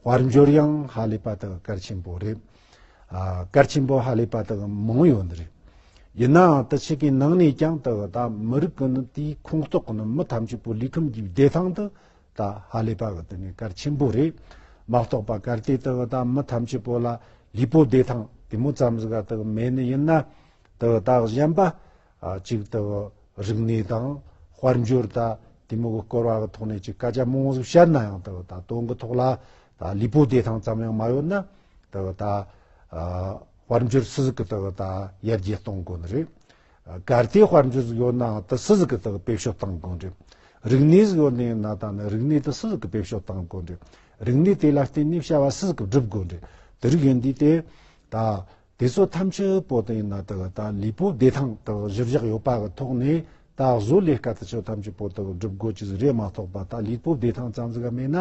དཔལ་འབྱོར་ཡང་ཧ་ལས་པ་དག་གལ་ཆེན་པོ་རེད། གལ་ཆེན་པོ་ཧ་ལས་པ་དག་མང་ཡོད་ནི་རེད། ཡིན་ནའང་ད་ཕྱི་གི་ནང་ནས་ཀྱང་ད་ད་མི་རིགས་ཀྱི་ནི་དེའི་ཁོངས་གཏོགས་ཀྱི་ནི་མི་ཐམས་ཅད་པོ་ལུས་ཁམས་ཀྱི་བདེ་ཐང་དུ་ད་ཧ་ལས་པ་དག་ནི་གལ་ཆེན་པོ་རེད། མ་གཏོགས་པ་གལ་ཏེ་ད་ད་མི་ཐམས་ཅད་པོ་ལ་ལུས་པོ་བདེ་ཐང་དེ་མོ་ཙམ་ཟིག་ག་ད་མེད་ནི་ཡིན་ན་ད་ད་གཞན་པ་གཅིག་ལྟ་བུ་རིག་གནས་དང་དཔལ་འབྱོར་ལྟ་དེ་མོ་གི་སྐོར་བ་གི་ཐོག་ནས་ཅིག་སྐད་ཆ་མང་བོ་བཤད་ན་ཡང་ལྟ་བུ་ད་དོན་གི་ཐོག་ལ་ད་ལུས་པོ་བདེ་ཐང་ཙམ་ཡང་མ་ཡོད་ན་ལྟ་བུ་ད་དཔལ་འབྱོར་སུ་ཟིག་གི་ལྟ་བུ་ད་ཡར་རྒྱས་གཏོང་དགོས་ནི་རེད། གལ་ཏེ་དཔལ་འབྱོར་ཟིག་ཡོད་ནའང་ད་སུ་ཟིག་གི་ལྟ་བུ་དཔེ་བཤོ་བཏང་དགོས་རེད། རིག་གནས་ཟིག་ཡོད་ནི་ཡོད་ན་ད་ནི་རིག་གནས་ད་སུ་ཟིག་གི་དཔེ་བཤོ་བཏང་དགོས་རེད། རིག་གནས་དེ་ལ་བརྟེན་ནས་བྱ་བ་སུ་ཟིག་གི་བསྒྲུབ་དགོས་རེད། དེ་རིགས་ཡིན་དུས་དེ་ད་དེ་ཚོ་ཐམས་ཅད་པོ་ཏི་ན་ཏི་ག་དང་ལི་པོ་བདེ་ཐང་དང་གཞིར་བཞག་ཡོད་པ་གི་ཐོག་ནས་ད་གཟོད་ལས་ཀ་དེ་ཚོ་ཐམས་ཅད་པོ་ཏི་གི་སྒྲུབ་དགོས་ཀྱི་རེད་མ་གཏོགས་པ་ད་ལི་པོ་བདེ་ཐང་ཙང་ཙི་ག་མེད་ན་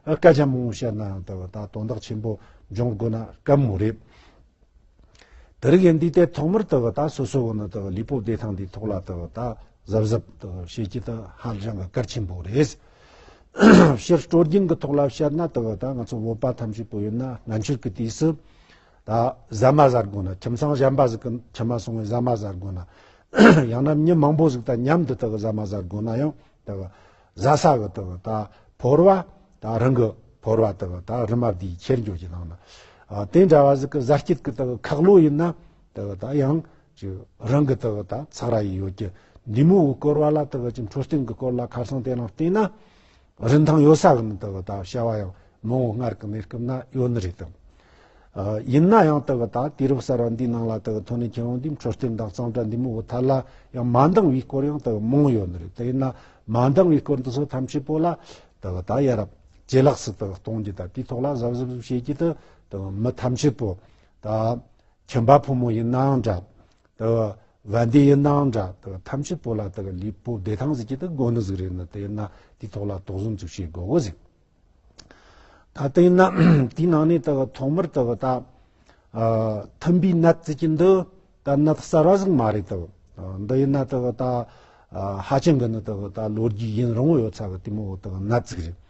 སྐད་ཆ་མང་བོ་བཤད་ན་ཡང་ཏི་གི་ད་དོན་དག་ཆེན་པོ་འབྱུང་དགོས་ན་སྐབས་མོ་རེད། དི་རི་གས་འདི་ལྟའི་ཐོག་མར་ཏི་གི་ད་སོ་སོ་གི་ནི་ཏི་གི་ལི་པོ་བདེ་ཐང་འདིའི་ཐོག་ལ་ཏི་གི་ད་གཟབ་གཟབ་ཏི་གི་བྱེད་ཀྱི་ཏི་ཧ་ཅང་གི་གལ་ཆེན་པོ་རེད། ཕྱིར་སྤྲོ་སྐྱིང་གི་ཐོག་ལ་བཤད་ན་ཏི་གི་ད་ང་ཚོ་བོད་པ་ཐམས་ཅད་པོ་ཡོད་ན་སྔ་འཕྱིར་གི་དུས་སུ། ད་ཟ་མ་ཟ་དགོས་ན་ཁྱིམ་ཚང་གཞན་པ་ཟིག་གི་ཁྱིམ་མ་སོང་བས་ཟ་མ་ཟ་དགོས་ན། ཡང་ན་མྱི་མང་པོ་ཟིག་དང་མཉམ་དུ་དག་ཟ་མ་ཟ་དགོས་ན་ཡང་དག་ཟ་ས་གི་དག་ད་ཕོར་བ་ད་རང་གི་ཕོར་བ་དག་ད་རི་མ་བསྡུས་ཁྱེར་འགྱོ་གྱི་ནང་ན་དེ་འདྲ་བ་ཟིག་གི་ཟ་སྐྱིད་གི་དག་ཁག་ལོ་ཡིན་ན་དག་ད་ཡང་ཅི་རང་གི་དག་ད་ཚག་ར་ཡི་ཡོད་ཀྱི་འདི་མོའི་བསྐོར་བ་ལ་དག་ཅི་འཕྲོ་སྟེང་གི་སྐོར་ལ་ཁར་སང་དེ་ལ་བལྟས་ན། རིན་ཐང་ཡོད་ས་གི་མི་འདུག་ད་བྱ་བ་ཡང་མང་བོ་སྔར་གི་གནས་སྐབས་ན་ཡོད་ནི་རེད་དམ། ཡིན་ན་ཡང་དེ་གི་ད་དུས་རབས་གསར་བ་འདིའི་ནང་ལ་དེ་གི་ཐོག་ནས་ཁྱེད་རང་འདིའི་འཕྲོད་བསྟེན་དང་གཙང་སྦྲ་འདི་མི་བོ་ཐ་ལ་ཡང་མ་འདང་བའི་སྐོར་ཡང་དེ་གི་མང་ཡོད་ནི་རེད་དེ་ཡིན་ན་མ་འདང་བའི་སྐོར་འདི་ཚོ་ཐམས་ཅད་པོ་ལ་དེ་གི་ད་ཡ་རབས་ཇེ་ལགས་སུ་དེ་གི་གཏོང་རྒྱུ་དང་དེའི་ཐོག་ལ་གཟབ་གཟབ་གཟབ་བྱེད་རྒྱུ་དེ་དེ་གི་མི་ཐམས་ཅད་པོ་ད་ཁྱིམ་པ་ཕོ་མོ་ཡིན་ནའང་འདྲ་དེ་བ་འདི་ཡི་སྣང་འདྲ་དེ་ཐམས་ཅད་པོ་ལ་དེ་ལུས་པོ་བདེ་ཐང་ཟིག་གི་དེ་སྒོ་ནི་ཟིག་རེད་ན་དེ་ན་དེའི་ཐོག་ལ་དོགས་གཟོན་ཚུགས་བྱེད་དགོས་བོ་ཟིག། ད་དེ་ན་དེའི་ནང་ནས་དེ་ཐོག་མར་དེ་ད་མཐུན་པའི་ནད་ཟིག་གི་འདི་ད་ནད་གསར་བ་ཟིག་མ་རེད་དེ་འདི་ཡི་ནད་དེ་ད་ཧ་ཅང་གི་ནི་དེ་ད་ལོ་རྒྱུས་ཡིན་རུང་ཡོད་ཚ་གི་དེ་མོ་དེ་ནད་ཟིག་རེད།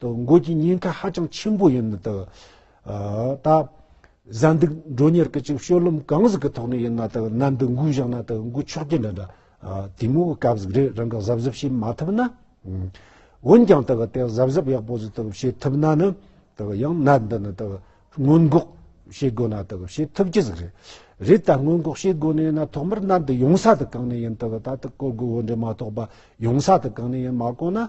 དུ་འགོད་ཀྱི་ཉེན་ཁ་ཧ་ཅང་ཆེན་པོ་ཡིན། ད་ལྟ་གཟའ་འདུག་མགྲོན་གཉེར་གྱི་ཅིང་ཤོས་ལུམ་གང་ཟིག་གི་ཐོག་ནས་ཡིན་ན་ད་གནའ་འདུག་འགོས་བཞག་ན་ད་འགོས་ཆོག་གྱི་འདྲ་འདྲ། དེ་མུའུ་སྐབས་ཟིག་རེ་རང་གི་གཟབ་གཟབ་བྱེད་མ་ཐུབ་ན། འོན་ཀྱང་ད་དེ་གཟབ་གཟབ་ཡག་པོ་ཟིག་ད་བྱེད་ཐུབ་ན་ནི་ད་ཡང་གནའ་འདི་ནི་ད་སྔོན་འགོག་བྱེད་དགོས་ན་ད་བྱེད་ཐུབ་ཀྱི་ཟིག་རེད། རེད་ད་སྔོན་འགོག་བྱེད་དགོས་ནས་ན་ཐོག་མར་གནའ་འདི་ཡོང་ས་ད་གང་ནས་ཡིན་ད་ད་ད་སྐོར་དགོས་འོ་འདྲ་མ་གཏོགས་པ་ཡོང་ས་ད་གང་ནས་ཡིན་མ་གོ་ན།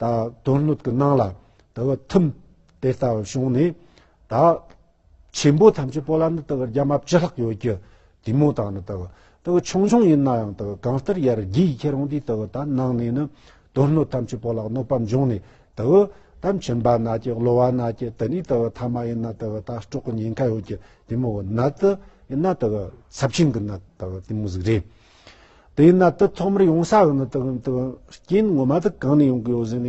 ད་དོན་སྣོད་ཀྱི་སྣང་ལ་དུ་བ་ཐིམ། དེ་ལྟ་བུར་བྱུང་ནས་ད་ཆེན་པོ་ཐམས་ཅད་པོ་ལ་ནི་དུ་བ་རྒྱ་མ་བཅུ་ལྷག་ཡོད་ཀྱི། དེ་མོ་དག་ནི་དུ་བ་དུ་བ་ཆུང་ཆུང་ཡིན་ན་ཡང་དུ་བ་གང་ལྟར་ཡར་རྒྱས་ཁྱེད་རང་དེའི་དུ་བ་དག་སྣང་ནས་ནི་དོན་སྣོད་ཐམས་ཅད་པོ་ལ་གནོད་པ་འབྱུང་ནས་དུ་བ་དག་འཆིང་བ་ན་སྐྱེ་གློ་བ་ན་སྐྱེ་དེ་ནས་དུ་བ་ཐ་མ་ཡིན་ན་དུ་བ་དག་སྐྲོག་གི་ཉེན་ཁ་ཡོད་ཀྱི་དེ་མོ་བ་ནད་དུ་ཡིན་ན་དུ་བ་ཚབས་ཆེན་གྱི་ནད་དུ་བ་དེ་མོ་ཟིག་རེད། དེ་ཡིན་ན་དུད་ཐོག་མར་ཡོང་ས་དང་དུད་རྐྱེན་ངོ་མ་དུ་གང་ནས་ཡོང་གི་ཡོད་ཟེར་ནས།